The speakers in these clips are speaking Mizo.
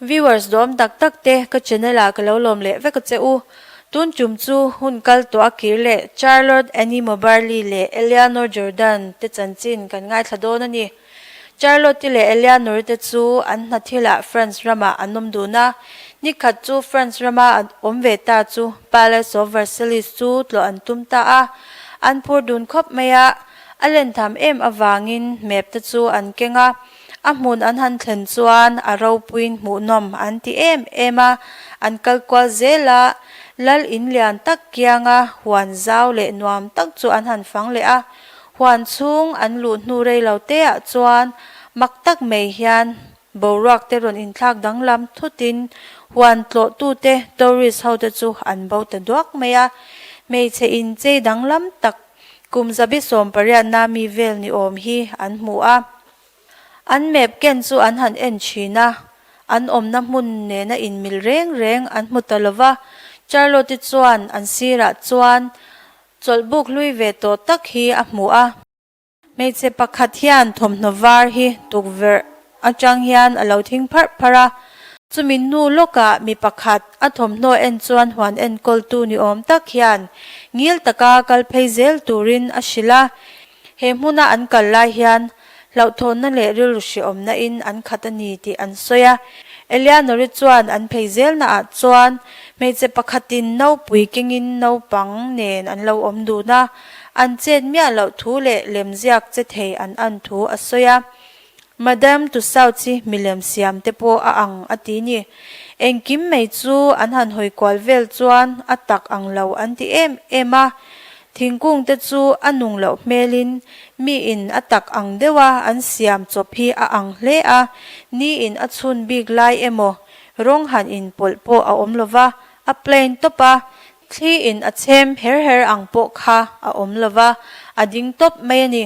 Viewers dawm tak tak te ka channel ah ka lo lawm leh vek a che u. Tun tum chu hun kal tawh a kir leh Charlotte Annie Moberly leh Eleanor Jordan te chanchin kan ngaithla dawn a ni. Charlotte leh Eleanor te chu an hna thil ah France ram ah an awm dun a, ni khat chu France ram a an awm ve ta chu Palace of Versailles chu tlawh an tum ta a, an phur dun khawp mai a, a len tham em avangin map te chu an keng a. A hmun an han thlen chuan a ropuiin hmuhnawm an ti em em a, an kal kual zel a, lal in lian tak kianga huan zau leh nuam tak chu an han fang leh a. Huan chhung an luh hnu rei lo teah chuan mak tak mai hian boruak te rawn inthlak danglam thut in huan tlawh tu te, tourist, ho te chu an bo ta duak mai a, hmeichhe inchei danglam tak. kum zabi sawmpariatna mi vel ni awm hi an hmu a, an map ken chu an han en thin a, an awmna hmun nena inmil reng reng an hmu ta lo va, Charlotte chuan an sirah chuan chawlhbuk hlui ve tawh tak hi a hmu a. Hmeichhe pakhat hian thawmhnaw var hi tukverh atang hian a lo thing pharh pharh a. Chumi hnu lawkah mi pakhat a thawmhnaw en chuan huan enkawltu ni awm tak hian ngil taka kal phei zel turin a hrilh a. He hmuna an kal lai hian hlauhthawnna leh rilruhriawmna in an khat a ni tih an sawi a. Eleanor-i chuan an phei zelna ah chuan hmeichhe pakhatin naupui kengin naupang nen an lo awm dun a. an chet miah loh thu leh lemziak che thei an an thu a sawi a. Madam Tusauchi milem siam te pawh a ang a ti ni. Engkim mai chu an han hawi kual vel chuan a tak ang lo an ti em em a. Thingkung te chu a nung loh hmelin mi in a tak ang deuh a an siam chawp hi a ang hle a, ni in a chhun bik lai emaw rawng han in pawlh pawh a awm lova a plain tawp a, Thli in a chhem her her ang pawh kha a awm lo va, a ding tawp mai a ni.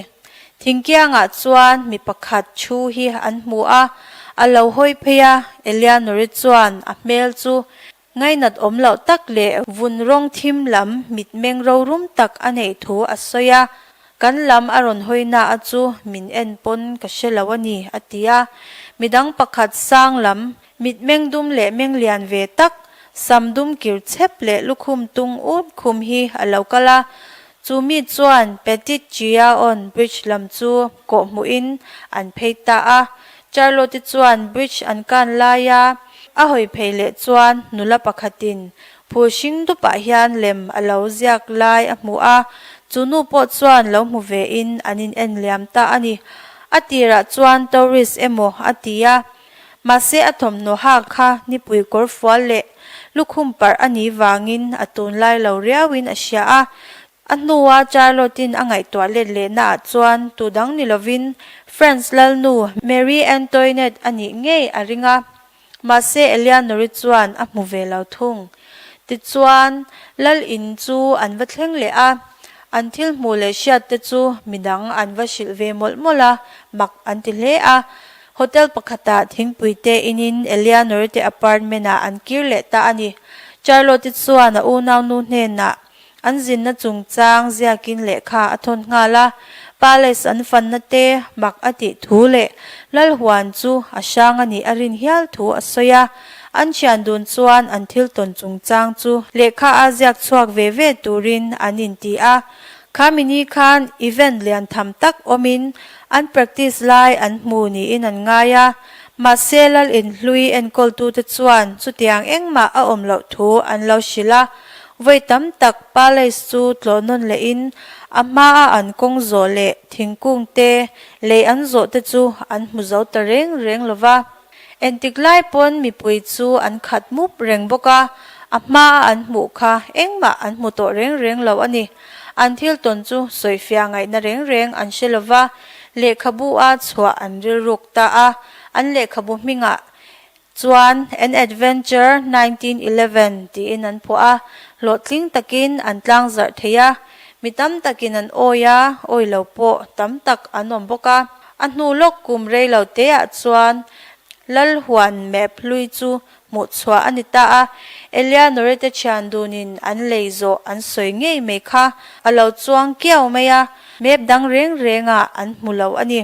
Thingkiang ah chuan mi pakhat thu hi an hmu a, a lo hawi phei a, Eleanor-i chuan a hmel chu ngainat awm loh tak leh vun rawng thim lam mitmeng rorum tak a neih thu a sawi a, kan lam a rawn hawi na a chu min en pawn ka hre lo a ni a ti a. Midang pakhat sang lam Mit meng dum leh meng lian ve tak, sam dum kir chhep leh lukhum tung ût khum hi a lo kal a. Chu mi chuan Petite Jiaon Bridge lam chu kawhhmuhin an phei ta a. Charlotte chuan bridge an kan lai a, a hawi phei leh chuan nula pakhatin phul hring dupah hian lem a lo ziak lai a hmu a, chu nu pawh chuan lo hmu vein an in en liam ta a ni. A tirah chuan tourist emaw a ti a, Mahse a thawmhnawaha kha nipui kawr fual leh lukhum parh a nih vangin a tun lai lo riauin a hria a. A hnua Charlotte-in a ngaihtuah let lehnaah chuan tut ang ni lovin Franz lalnu Marie Antoinette a nih ngei a ring a. Mahse Eleanor-i chuan a hmu ve lo thung. Tichuan, lal in chu an va thleng leh a, an thil hmuh leh hriatte chu midang an va hrilh ve mawlh mawlh a, mak an ti hle a. Hotel pakhatah thingpuite inin Eleanor te apartment-ah an kir leh ta a ni. Charlotte chuan a unau nu hnenah an zinna chungchang ziakin lehkha a thawn nghal a, Palace an fanna te mak a tih thu leh lal huan chu a hrang a nih a rin hial thu a sawi a. An thian dun chuan an thiltawn chungchang chu lehkha a ziak chhuak ve ve turin an inti a, Khami-ni khan event lian tham tak awmin an practice lai an hmu niin an ngai a, mahse Lal in hlui enkawltute chuan chutiang engmah a awm loh thu an lo hrilh a, vawi tam tak palace chu tlawh nawn lehin a hmaa an kawng zawh leh thingkungte lei an zawhte chu an hmu zo ta reng reng lova. Entik lai pawn mipui chu an khat mup reng bawk a, a hma a an hmuh kha engmah an hmu tawh reng reng lo a ni. An thil tawn chu sawifiah ngaihna reng reng an hre lo va, lehkhabu a chhuah an rilruk ta a, an lehkhabu hmingah chuan An Adventure Nineteen Eleven tiin an phuah a, hlawhtling takin an tlang zarh thei a, mi tam takin an awi a, awilo pawh tam tak an awm bawk a. A hnu lawk kum rei lo têah chuan Lal huan map hlui chu hmuh chhuah a ni ta a, Eleanore te thian dunin an lei zawh an sawi ngei mai kha a lo chuang kiau mai a, map dang rêng rênga an hmu lo a ni.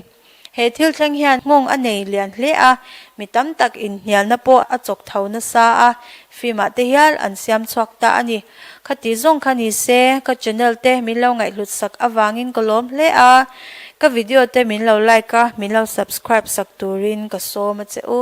He thil thleng hian nghawng a nei lian hle a, mi tam tak inhnialna pawh a chawk tho nasa a, fimah te hial an siam chhuak ta a ni. Khatih zawng kha ni se, ka channel te min lo ngaihhlut sak avangin ka lawm hle a, ka video te min lo like a, min lo subscribe sak turin ka sawm a che u.